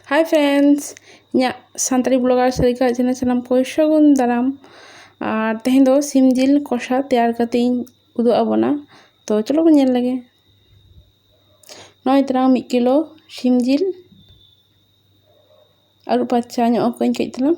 ᱦᱟᱭ friends ᱤᱧᱟᱹᱜ Santali blogger Sarika channel ᱥᱟᱱᱟᱢ ᱠᱚ ᱥᱟᱹᱜᱩᱱ ᱫᱟᱨᱟᱢ ᱟᱨ ᱛᱮᱦᱮᱧ ᱫᱚ ᱥᱤᱢ ᱡᱤᱞ ᱠᱚᱥᱟ ᱛᱮᱭᱟᱨ ᱠᱟᱛᱮ ᱤᱧ ᱩᱫᱩᱜ ᱟᱵᱚᱱᱟ ᱛᱚ ᱪᱚᱞᱚ ᱵᱚᱱ ᱧᱮᱞ ᱞᱮᱜᱮ ᱱᱚᱜᱼᱚᱭ ᱛᱟᱞᱟᱝ ᱢᱤᱫ ᱠᱤᱞᱳ ᱥᱤᱢ ᱡᱤᱞ ᱟᱹᱨᱩᱵ ᱯᱷᱟᱨᱪᱟ ᱧᱚᱜ ᱟᱠᱚᱣᱟᱹᱧ ᱠᱟᱹᱡ ᱛᱟᱞᱟᱝ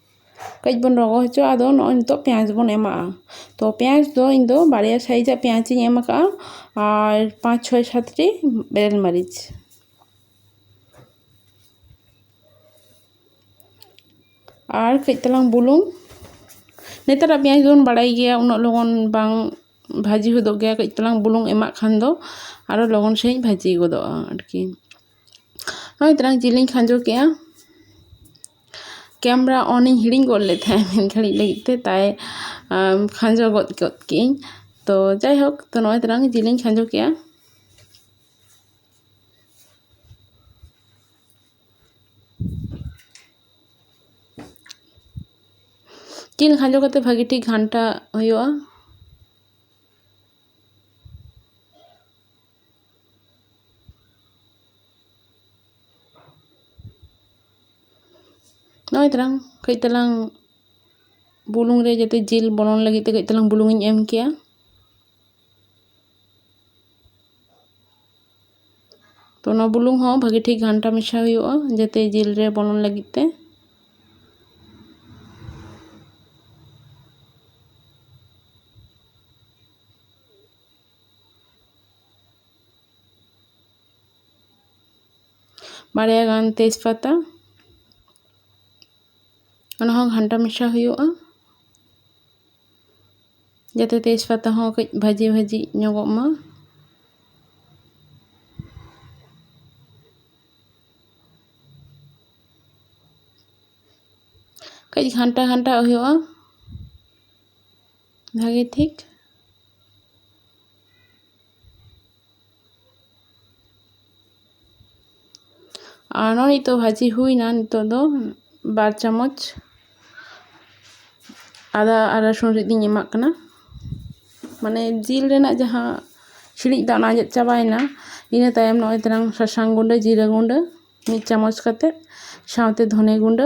ᱠᱟᱹᱡ ᱵᱚᱱ ᱨᱚᱸᱜᱚ ᱦᱚᱪᱚᱣᱟᱜᱼᱟ ᱟᱫᱚ ᱱᱚᱜᱼᱚᱭ ᱱᱤᱛᱚᱜ ᱯᱮᱸᱭᱟᱡᱽ ᱵᱚᱱ ᱮᱢᱟᱜᱼᱟ ᱛᱚ ᱯᱮᱸᱭᱟᱡᱽ ᱫᱚ ᱤᱧ ᱫᱚ ᱵᱟᱨᱭᱟ ᱥᱟᱭᱤᱡᱽ ᱟᱜ ᱯᱮᱸᱭᱟᱡᱽ ᱤᱧ ᱮᱢ ᱠᱟᱜᱼᱟ ᱟᱨ ᱯᱟᱸᱪ ᱪᱷᱚᱭ ᱥᱟᱛᱴᱤ ᱵᱮᱨᱮᱞ ᱢᱟᱹᱨᱤᱪ ᱟᱨ ᱠᱟᱹᱡ ᱛᱟᱞᱟᱝ ᱵᱩᱞᱩᱝ ᱱᱮᱛᱟᱨᱟᱜ ᱯᱮᱸᱭᱟᱡᱽ ᱫᱚᱵᱚᱱ ᱵᱟᱲᱟᱭ ᱜᱮᱭᱟ ᱩᱱᱟᱹᱜ ᱞᱚᱜᱚᱱ ᱵᱟᱝ ᱵᱷᱟᱹᱡᱤ ᱦᱚᱫᱚᱜ ᱜᱮᱭᱟ ᱠᱟᱹᱡ ᱛᱟᱞᱟᱝ ᱵᱩᱞᱩᱝ ᱮᱢᱟᱜ ᱠᱷᱟᱱ ᱫᱚ ᱟᱨᱚ ᱞᱚᱜᱚᱱ ᱥᱟᱺᱦᱤᱡ ᱵᱷᱟᱹᱡᱤ ᱜᱚᱫᱚᱜᱼᱟ ᱟᱨᱠᱤ ᱱᱚᱜᱼᱚᱭ ᱛᱟᱞᱟᱝ ᱡᱤᱞᱤᱧ ᱠᱷᱟᱸᱡᱚ ᱠᱮᱜᱼᱟ ᱠᱮᱢᱨᱟ ᱚᱱ ᱤᱧ ᱦᱤᱲᱤᱧ ᱜᱚᱫ ᱞᱮᱫ ᱛᱟᱦᱮᱸᱫ ᱢᱤᱫ ᱜᱷᱟᱹᱲᱤᱡ ᱞᱟᱹᱜᱤᱫ ᱛᱮ ᱛᱟᱭ ᱠᱷᱟᱸᱡᱚ ᱜᱚᱫ ᱠᱮᱫ ᱠᱮᱫᱟᱹᱧ ᱛᱚ ᱡᱟᱭᱦᱳᱠ ᱛᱚ ᱱᱚᱜᱼᱚᱭ ᱛᱟᱞᱟᱝ ᱡᱤᱞ ᱤᱧ ᱠᱷᱟᱸᱡᱚ ᱠᱮᱫᱼᱟ ᱡᱤᱞ ᱠᱷᱟᱸᱡᱚ ᱠᱟᱛᱮᱫ ᱵᱷᱟᱹᱜᱤ ᱴᱷᱤᱠ ᱜᱷᱟᱱᱴᱟᱜ ᱦᱩᱭᱩᱜᱼᱟ ᱱᱚᱜᱼᱚᱭ ᱛᱟᱞᱟᱝ ᱠᱟᱹᱡ ᱛᱟᱞᱟᱝ ᱵᱩᱞᱩᱝ ᱨᱮ ᱡᱟᱛᱮ ᱡᱤᱞ ᱵᱚᱞᱚᱱ ᱞᱟᱹᱜᱤᱫ ᱛᱮ ᱠᱟᱹᱡ ᱛᱟᱞᱟᱝ ᱵᱩᱞᱩᱝ ᱤᱧ ᱮᱢ ᱠᱮᱭᱟ ᱛᱚ ᱚᱱᱟ ᱵᱩᱞᱩᱝ ᱦᱚᱸ ᱵᱷᱟᱹᱜᱤ ᱴᱷᱤᱠ ᱜᱷᱟᱱᱴᱟ ᱢᱮᱥᱟ ᱦᱩᱭᱩᱜᱼᱟ ᱡᱟᱛᱮ ᱡᱤᱞ ᱨᱮ ᱵᱚᱞᱚᱱ ᱞᱟᱹᱜᱤᱫ ᱛᱮ ᱵᱟᱨᱭᱟ ᱜᱟᱱ ᱛᱮᱡᱽ ᱯᱟᱛᱟ ᱚᱱᱟ ᱦᱚᱸ ᱜᱷᱟᱱᱴᱟ ᱢᱮᱥᱟ ᱦᱩᱭᱩᱜᱼᱟ ᱡᱟᱛᱮ ᱛᱮᱡᱽ ᱯᱟᱛᱟ ᱦᱚᱸ ᱠᱟᱹᱡ ᱵᱷᱟᱹᱡᱤ ᱵᱷᱟᱹᱡᱤ ᱧᱚᱜᱚᱜ ᱢᱟ ᱠᱟᱹᱡ ᱜᱷᱟᱱᱴᱟ ᱜᱷᱟᱱᱴᱟᱣᱟᱜ ᱦᱩᱭᱩᱜᱼᱟ ᱵᱷᱟᱜᱮ ᱴᱷᱤᱠ ᱟᱨ ᱱᱚᱜᱼᱚᱭ ᱱᱤᱛᱚᱜ ᱵᱷᱟᱹᱡᱤ ᱦᱩᱭᱱᱟ ᱱᱤᱛᱚᱜ ᱫᱚ ᱵᱟᱨ ᱪᱟᱢᱚᱪ ᱟᱫᱟ ᱟᱨ ᱨᱟᱹᱥᱩᱱ ᱨᱤᱫ ᱤᱧ ᱮᱢᱟᱜ ᱠᱟᱱᱟ ᱢᱟᱱᱮ ᱡᱤᱞ ᱨᱮᱱᱟᱜ ᱡᱟᱦᱟᱸ ᱥᱤᱲᱤᱡ ᱫᱟᱜ ᱚᱱᱟ ᱟᱸᱡᱮᱫ ᱪᱟᱵᱟᱭᱮᱱᱟ ᱤᱱᱟᱹ ᱛᱟᱭᱚᱢ ᱱᱚᱜᱼᱚᱭ ᱛᱟᱞᱟᱝ ᱥᱟᱥᱟᱝ ᱜᱩᱰᱟᱹ ᱡᱤᱨᱟᱹ ᱜᱩᱰᱟᱹ ᱢᱤᱫ ᱪᱟᱢᱚᱪ ᱠᱟᱛᱮ ᱥᱟᱶᱛᱮ ᱫᱷᱚᱱᱮ ᱜᱩᱰᱟᱹ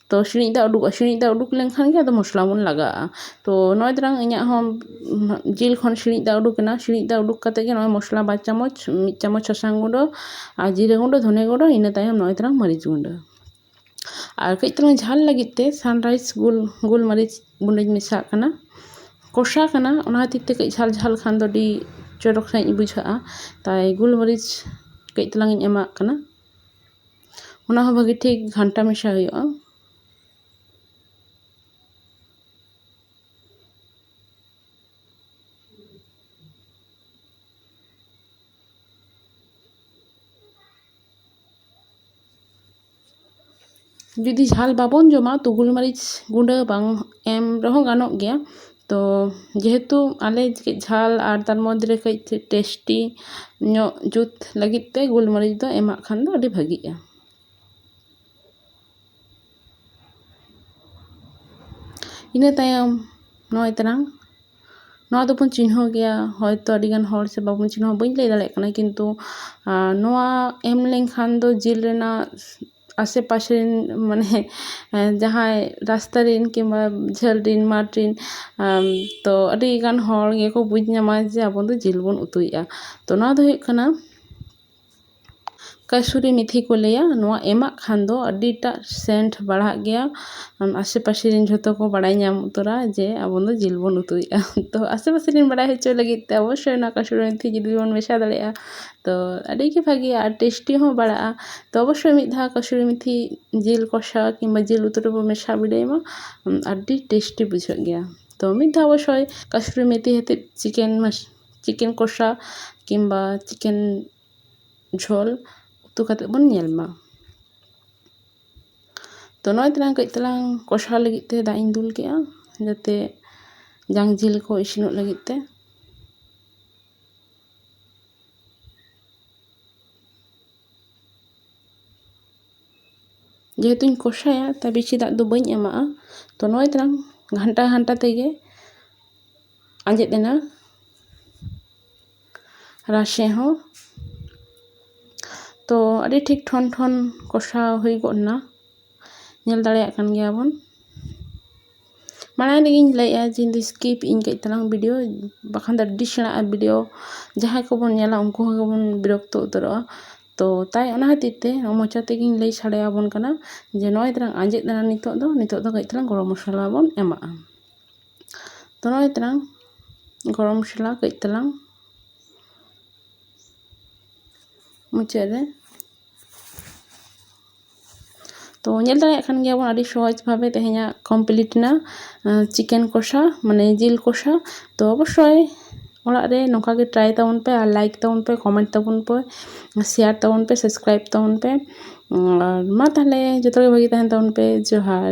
ᱛᱚ ᱥᱤᱬᱤᱡ ᱫᱟᱜ ᱩᱰᱩᱠᱚᱜᱼᱟ ᱥᱤᱬᱤᱡ ᱫᱟᱜ ᱩᱰᱩᱠ ᱞᱮᱱᱠᱷᱟᱱ ᱜᱮ ᱟᱫᱚ ᱢᱚᱥᱞᱟ ᱵᱚᱱ ᱞᱟᱜᱟᱣᱟᱜᱼᱟ ᱛᱚ ᱱᱚᱜᱼᱚᱭ ᱛᱚᱨᱟᱝ ᱤᱧᱟᱹᱜ ᱦᱚᱸ ᱡᱤᱞ ᱠᱷᱚᱱ ᱥᱤᱬᱤᱡ ᱫᱟᱜ ᱩᱰᱩᱠᱮᱱᱟ ᱥᱤᱬᱤᱡ ᱫᱟᱜ ᱩᱰᱩᱠ ᱠᱟᱛᱮᱫ ᱜᱮ ᱱᱚᱜᱼᱚᱭ ᱢᱚᱥᱞᱟ ᱵᱟᱨ ᱪᱟᱢᱚᱪ ᱢᱤᱫ ᱪᱟᱢᱚᱪ ᱥᱟᱥᱟᱝ ᱜᱩᱰᱟᱹ ᱟᱨ ᱡᱤᱨᱟᱹ ᱜᱩᱰᱟᱹ ᱫᱷᱚᱱᱮ ᱜᱩᱰᱟᱹ ᱤᱱᱟᱹ ᱛᱟᱭᱚᱢ ᱱᱚᱜᱼᱚᱭ ᱛᱚᱨᱟᱝ ᱢᱟᱹᱨᱤᱪ ᱜᱩᱰᱟᱹ ᱟᱨ ᱠᱟᱹᱡ ᱛᱟᱞᱟᱝ ᱡᱷᱟᱞ ᱞᱟᱹᱜᱤᱫ ᱛᱮ ᱥᱟᱱᱨᱟᱭᱤᱥ ᱜᱳᱞ ᱜᱳᱞ ᱢᱟᱹᱨᱤᱪ ᱜᱩᱰᱟᱹᱧ ᱢᱮᱥᱟᱣᱟᱜ ᱠᱟᱱᱟ ᱠᱚᱥᱟ ᱠᱟᱱᱟ ᱚᱱᱟ ᱠᱷᱟᱹᱛᱤᱨ ᱛᱮ ᱠᱟᱹᱡ ᱡᱷᱟᱞ ᱡᱷᱟᱞ ᱠᱷᱟᱱ ᱫᱚ ᱟᱹᱰᱤ ᱪᱚᱨᱚᱠ ᱥᱟᱺᱦᱤᱡ ᱵᱩᱡᱷᱟᱹᱜᱼᱟ ᱛᱟᱭ ᱜᱳᱞ ᱢᱟᱹᱨᱤᱪ ᱠᱟᱹᱡ ᱛᱟᱞᱟᱝ ᱤᱧ ᱮᱢᱟᱜ ᱠᱟᱱᱟ ᱚᱱᱟ ᱦᱚᱸ ᱵᱷᱟᱹᱜᱤ ᱴᱷᱤᱠ ᱜᱷᱟᱱᱴᱟ ᱢᱮᱥᱟ ᱦᱩᱭᱩᱜᱼᱟ ᱡᱩᱫᱤ ᱡᱷᱟᱞ ᱵᱟᱵᱚᱱ ᱡᱚᱢᱟ ᱛᱚ ᱜᱩᱞᱢᱟᱹᱨᱤᱪ ᱜᱩᱸᱰᱟᱹ ᱵᱟᱝ ᱮᱢ ᱨᱮᱦᱚᱸ ᱜᱟᱱᱚᱜ ᱜᱮᱭᱟ ᱛᱚ ᱡᱮᱦᱮᱛᱩ ᱟᱞᱮ ᱠᱟᱹᱡ ᱡᱷᱟᱞ ᱟᱨ ᱛᱟᱨ ᱢᱚᱫᱽᱫᱷᱮ ᱨᱮ ᱠᱟᱹᱡ ᱴᱮᱥᱴᱤ ᱧᱚᱜ ᱡᱩᱛ ᱞᱟᱹᱜᱤᱫ ᱛᱮ ᱜᱳᱞ ᱢᱟᱹᱨᱤᱪ ᱫᱚ ᱮᱢᱟᱜ ᱠᱷᱟᱱ ᱫᱚ ᱟᱹᱰᱤ ᱵᱷᱟᱹᱜᱤᱜᱼᱟ ᱤᱱᱟᱹ ᱛᱟᱭᱚᱢ ᱱᱚᱜᱼᱚᱭ ᱛᱟᱞᱟᱝ ᱱᱚᱣᱟ ᱫᱚᱵᱚᱱ ᱪᱤᱱᱦᱟᱹᱣ ᱜᱮᱭᱟ ᱦᱚᱭᱛᱳ ᱟᱹᱰᱤ ᱜᱟᱱ ᱦᱚᱲ ᱥᱮ ᱵᱟᱵᱚᱱ ᱪᱤᱱᱦᱟᱹᱣᱟ ᱵᱟᱹᱧ ᱞᱟᱹᱭ ᱫᱟᱲᱮᱭᱟᱜ ᱠᱟᱱᱟ ᱠᱤᱱᱛᱩ ᱱᱚᱣᱟ ᱮᱢ ᱞᱮᱱᱠᱷᱟᱱ ᱫᱚ ᱡᱤᱞ ᱨᱮᱱᱟᱜ ᱟᱥᱮ ᱯᱟᱥᱮ ᱨᱮᱱ ᱢᱟᱱᱮ ᱡᱟᱦᱟᱸᱭ ᱨᱟᱥᱛᱟ ᱨᱮᱱ ᱠᱤᱢᱵᱟ ᱡᱷᱟᱹᱞ ᱨᱮᱱ ᱢᱟᱴᱷ ᱨᱮᱱ ᱛᱚ ᱟᱹᱰᱤᱜᱟᱱ ᱦᱚᱲ ᱜᱮᱠᱚ ᱵᱩᱡᱽ ᱧᱟᱢᱟ ᱡᱮ ᱟᱵᱚ ᱫᱚ ᱡᱤᱞ ᱵᱚᱱ ᱩᱛᱩᱭᱮᱫᱼᱟ ᱛᱚ ᱱᱚᱣᱟ ᱫᱚ ᱦᱩᱭᱩᱜ ᱠᱟᱱᱟ ᱠᱟᱹᱥᱩᱨᱤ ᱢᱮᱛᱷᱤ ᱠᱚ ᱞᱟᱹᱭᱟ ᱱᱚᱣᱟ ᱮᱢᱟᱜ ᱠᱷᱟᱱ ᱫᱚ ᱟᱹᱰᱤᱴᱟᱜ ᱥᱮᱱᱴ ᱵᱟᱲᱦᱟᱜ ᱜᱮᱭᱟ ᱟᱥᱮ ᱯᱟᱥᱮ ᱨᱮᱱ ᱡᱷᱚᱛᱚ ᱠᱚ ᱵᱟᱲᱟᱭ ᱧᱟᱢ ᱩᱛᱟᱹᱨᱟ ᱡᱮ ᱟᱵᱚ ᱫᱚ ᱡᱤᱞ ᱵᱚᱱ ᱩᱛᱩᱭᱮᱫᱼᱟ ᱛᱚ ᱟᱥᱮ ᱯᱟᱥᱮ ᱨᱮᱱ ᱵᱟᱲᱟᱭ ᱦᱚᱪᱚ ᱞᱟᱹᱜᱤᱫ ᱛᱮ ᱚᱵᱚᱥᱥᱳᱭ ᱚᱱᱟ ᱠᱟᱹᱥᱩᱨᱤ ᱢᱮᱛᱷᱤ ᱡᱩᱫᱤ ᱵᱚᱱ ᱢᱮᱥᱟ ᱫᱟᱲᱮᱭᱟᱜᱼᱟ ᱛᱚ ᱟᱹᱰᱤᱜᱮ ᱵᱷᱟᱜᱮᱭᱟ ᱟᱨ ᱴᱮᱥᱴᱤ ᱦᱚᱸ ᱵᱟᱲᱟᱜᱼᱟ ᱛᱚ ᱚᱵᱚᱥᱥᱳᱭ ᱢᱤᱫ ᱫᱷᱟᱣ ᱠᱟᱹᱥᱩᱨᱤ ᱢᱮᱛᱷᱤ ᱡᱤᱞ ᱠᱚᱥᱟ ᱠᱤᱢᱵᱟ ᱡᱤᱞ ᱩᱛᱩ ᱨᱮᱵᱚ ᱢᱮᱥᱟ ᱵᱤᱰᱟᱹᱣ ᱢᱟ ᱟᱹᱰᱤ ᱴᱮᱥᱴᱤ ᱵᱩᱡᱷᱟᱹᱜ ᱜᱮᱭᱟ ᱛᱚ ᱢᱤᱫ ᱫᱷᱟᱣ ᱚᱵᱚᱥᱥᱳᱭ ᱠᱟᱹᱥᱩᱨᱤ ᱢᱮᱛᱷᱤ ᱟᱛᱮᱫ ᱪᱤᱠᱮᱱ ᱪᱤᱠᱮᱱ ᱠᱚᱥᱟ ᱠᱤᱢᱵᱟ ᱪᱤᱠᱮᱱ ᱡᱷᱳᱞ ᱩᱛᱩ ᱠᱟᱛᱮᱫ ᱵᱚᱱ ᱧᱮᱞ ᱢᱟ ᱛᱚ ᱱᱚᱜᱼᱚᱭ ᱛᱟᱞᱟᱝ ᱠᱟᱹᱡ ᱛᱟᱞᱟᱝ ᱠᱚᱥᱟ ᱞᱟᱹᱜᱤᱫ ᱛᱮ ᱫᱟᱜ ᱤᱧ ᱫᱩᱞ ᱠᱮᱫᱼᱟ ᱡᱟᱛᱮ ᱡᱟᱝ ᱡᱤᱞ ᱠᱚ ᱤᱥᱤᱱᱚᱜ ᱞᱟᱹᱜᱤᱫ ᱛᱮ ᱡᱮᱦᱮᱛᱩᱧ ᱠᱚᱥᱟᱭᱟ ᱛᱟᱭ ᱵᱮᱥᱤ ᱫᱟᱜ ᱫᱚ ᱵᱟᱹᱧ ᱮᱢᱟᱜᱼᱟ ᱛᱚ ᱱᱚᱜᱼᱚᱭ ᱛᱟᱞᱟᱝ ᱜᱷᱟᱱᱴᱟ ᱜᱷᱟᱱᱴᱟ ᱛᱮᱜᱮ ᱟᱸᱡᱮᱫ ᱮᱱᱟ ᱨᱟᱥᱮ ᱦᱚᱸ ᱛᱚ ᱟᱹᱰᱤ ᱴᱷᱤᱠ ᱴᱷᱚᱱ ᱴᱷᱚᱱ ᱠᱚᱥᱟᱣ ᱦᱩᱭ ᱜᱚᱫ ᱮᱱᱟ ᱧᱮᱞ ᱫᱟᱲᱮᱭᱟᱜ ᱠᱟᱱ ᱜᱮᱭᱟ ᱵᱚᱱ ᱢᱟᱲᱟᱝ ᱨᱮᱜᱮᱧ ᱞᱟᱹᱭᱮᱫᱼᱟ ᱡᱮ ᱤᱧᱫᱚ ᱥᱠᱤᱯ ᱮᱫᱟᱹᱧ ᱠᱟᱹᱡ ᱛᱟᱞᱟᱝ ᱵᱷᱤᱰᱤᱭᱳ ᱵᱟᱠᱷᱟᱱ ᱫᱚ ᱟᱹᱰᱤ ᱥᱮᱬᱟᱜᱼᱟ ᱵᱷᱤᱰᱤᱭᱳ ᱡᱟᱦᱟᱸᱭ ᱠᱚᱵᱚᱱ ᱧᱮᱞᱟ ᱩᱱᱠᱩ ᱦᱚᱸ ᱜᱮᱵᱚᱱ ᱵᱤᱨᱚᱠᱛᱚ ᱩᱛᱟᱹᱨᱚᱜᱼᱟ ᱛᱳ ᱛᱟᱭ ᱚᱱᱟ ᱠᱷᱟᱹᱛᱤᱨ ᱛᱮ ᱢᱚᱪᱟ ᱛᱮᱜᱮᱧ ᱞᱟᱹᱭ ᱥᱟᱰᱮ ᱟᱵᱚᱱ ᱠᱟᱱᱟ ᱡᱮ ᱱᱚᱜᱼᱚᱭ ᱛᱟᱞᱟᱝ ᱟᱸᱡᱮᱫ ᱮᱱᱟ ᱱᱤᱛᱚᱜ ᱫᱚ ᱱᱤᱛᱚᱜ ᱫᱚ ᱠᱟᱹᱡ ᱛᱟᱞᱟᱝ ᱜᱚᱨᱚᱢ ᱢᱚᱥᱞᱟ ᱵᱚᱱ ᱮᱢᱟᱜᱼᱟ ᱛᱳ ᱱᱚᱜᱼᱚᱭ ᱛᱟᱞᱟᱝ ᱜᱚᱨᱚᱢ ᱢᱚᱥᱞᱟ ᱠᱟᱹᱡ ᱛᱟᱞᱟᱝ ᱢᱩᱪᱟᱹᱫ ᱨᱮ ᱛᱚ ᱧᱮᱞ ᱫᱟᱲᱮᱭᱟᱜ ᱠᱟᱱ ᱜᱮᱭᱟᱵᱚᱱ ᱟᱹᱰᱤ ᱥᱚᱦᱚᱡᱽ ᱵᱷᱟᱵᱮ ᱛᱮᱦᱮᱧᱟᱜ ᱠᱚᱢᱯᱞᱤᱴ ᱮᱱᱟ ᱪᱤᱠᱮᱱ ᱠᱚᱥᱟ ᱢᱟᱱᱮ ᱡᱤᱞ ᱠᱚᱥᱟ ᱛᱚ ᱚᱵᱚᱥᱥᱳᱭ ᱚᱲᱟᱜ ᱨᱮ ᱱᱚᱝᱠᱟ ᱜᱮ ᱴᱨᱟᱭ ᱛᱟᱵᱚᱱ ᱯᱮ ᱟᱨ ᱞᱟᱭᱤᱠ ᱛᱟᱵᱚᱱ ᱯᱮ ᱠᱚᱢᱮᱱᱴ ᱛᱟᱵᱚᱱ ᱯᱮ ᱥᱮᱭᱟᱨ ᱛᱟᱵᱚᱱ ᱯᱮ ᱥᱟᱵᱥᱠᱨᱟᱭᱤᱵᱽ ᱛᱟᱵᱚᱱ ᱯᱮ ᱟᱨ ᱢᱟ ᱛᱟᱦᱚᱞᱮ ᱡᱚᱛᱚ ᱜᱮ ᱵᱷᱟᱜᱮ ᱛᱟᱦᱮᱱ ᱛᱟᱵᱚᱱ ᱯᱮ ᱡᱚᱦᱟᱨ